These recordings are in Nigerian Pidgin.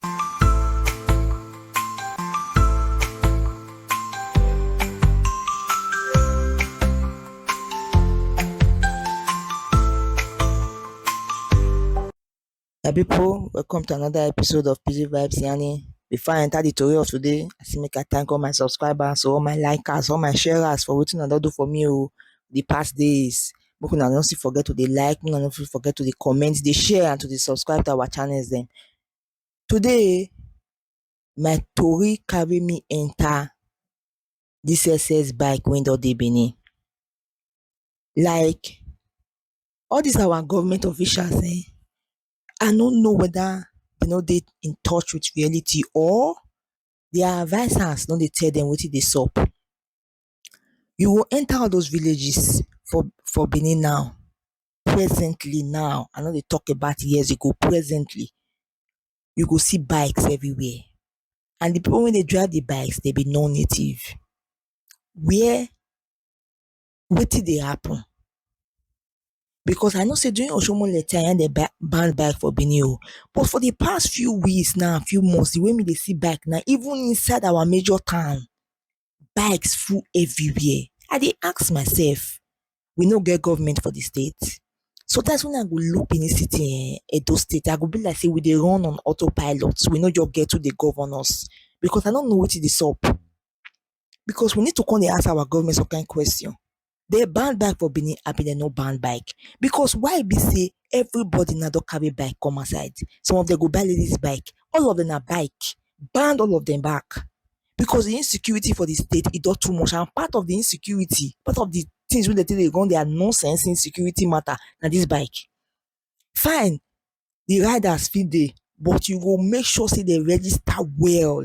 My people, welcome to another episode of PG Vibes Yani. Before I enter the story of today, I say make I thank all my subscribers, all my likers, all my sharers for wetin una don do for me o oh, the past days. Make una no still forget to dey like, make una no forget to dey comment, dey share and to dey subscribe to our channels dem. Today my tori carry me enter this excess bike wey don dey Benin. Like all this our government officials um I no know whether dem no dey in touch with reality or their advisers no dey tell dem wetin dey sup. You go enter all those villages for for Benin now presently now I no dey talk about years ago presently you go see bikes everywhere and the people wey dey drive the bikes dem be non native where wetin dey happen because I know say during oshiomhole time na him dem ban ban bike for Benin o but for the past few weeks now few months the way me dey see bike now even inside our major town bikes full everywhere i dey ask myself we no get government for the state? sometimes when i go look benin city um edo state i go be like say we dey run on auto pilot we no just get who dey govern us because i no know wetin dey sup because we need to come dey ask our government some kind question dey ban bike for Benin abi dem no ban bike because why be sey everybody now don carry bike come outside some of dem go buy ladies bike all of dem na bike ban all of dem back because de insecurity for de state e don too much and part of de insecurity part of de things wey dem take dey run their nonsense insecurity matter na this bike fine de riders fit dey but you go make sure sey dem register well.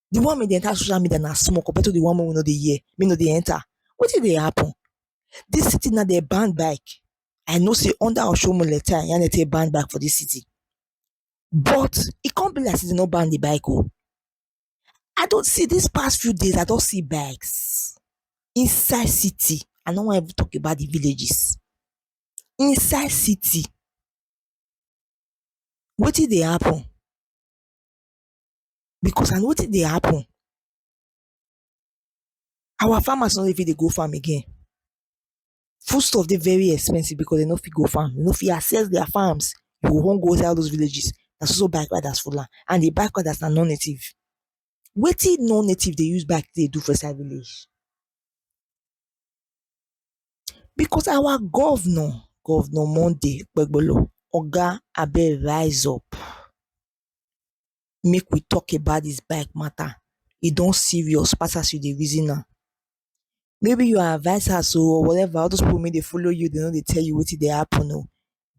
the one wey dey enter social media na small compared to the one wey we no dey hear, wey no dey enter. Wetin dey happen? Dis city now dey ban bike. I know sey under Oshiomhole time na im dem take ban bike for dis city. But e come be like sey dem no ban the bike oh. I don see dis past few days, I don see bikes inside city. I no wan even talk about the villages. Inside city. Wetin dey happen? because na wetin dey happen our farmers no dey fit dey go farm again food stuff dey very expensive because dem no fit go farm dem no fit access their farms you go come go inside all those villages na so so bike riders full am and the bike riders na non native wetin non native dey use bike take dey do for inside village because our governor, governor Monday okpebholo oga abeg rise up Make we talk about dis bike matter, e don serious pass as you dey reason am. Maybe your advisers oh or whatever, all those people wey dey follow you, dey no dey tell you wetin dey happen oh,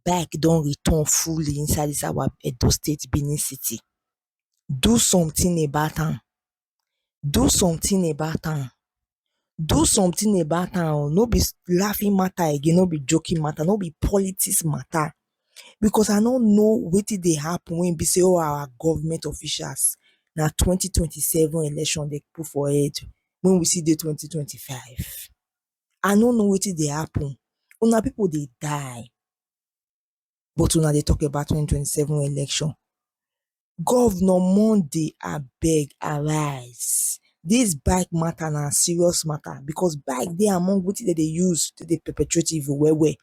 bike don return fully inside dis our Edo State, Benin City. Do something about am. do something about am do something about am oh no be laughing matter again no be joking matter no be politics matter because I no know wetin dey happen wey be sey all our government officials na twenty twenty seven election dem put for head when we still dey twenty twenty five I no know wetin dey happen una people dey die but una dey talk about twenty twenty seven election governor monday abeg arise this bike matter na serious matter because bike dey among wetin dem dey use take dey perpetrate evil well well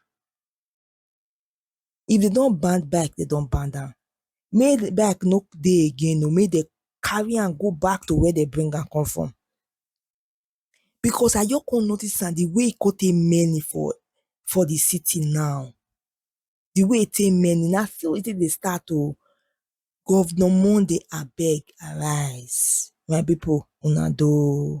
if dem don ban bike dem don ban am make bike no dey again oo make dem carry am go back to where dem bring am come from because I just come notice am di way e come take many for for di city now, di way e take many na so e take dey start oh, governor Monday abeg arise my people una doh.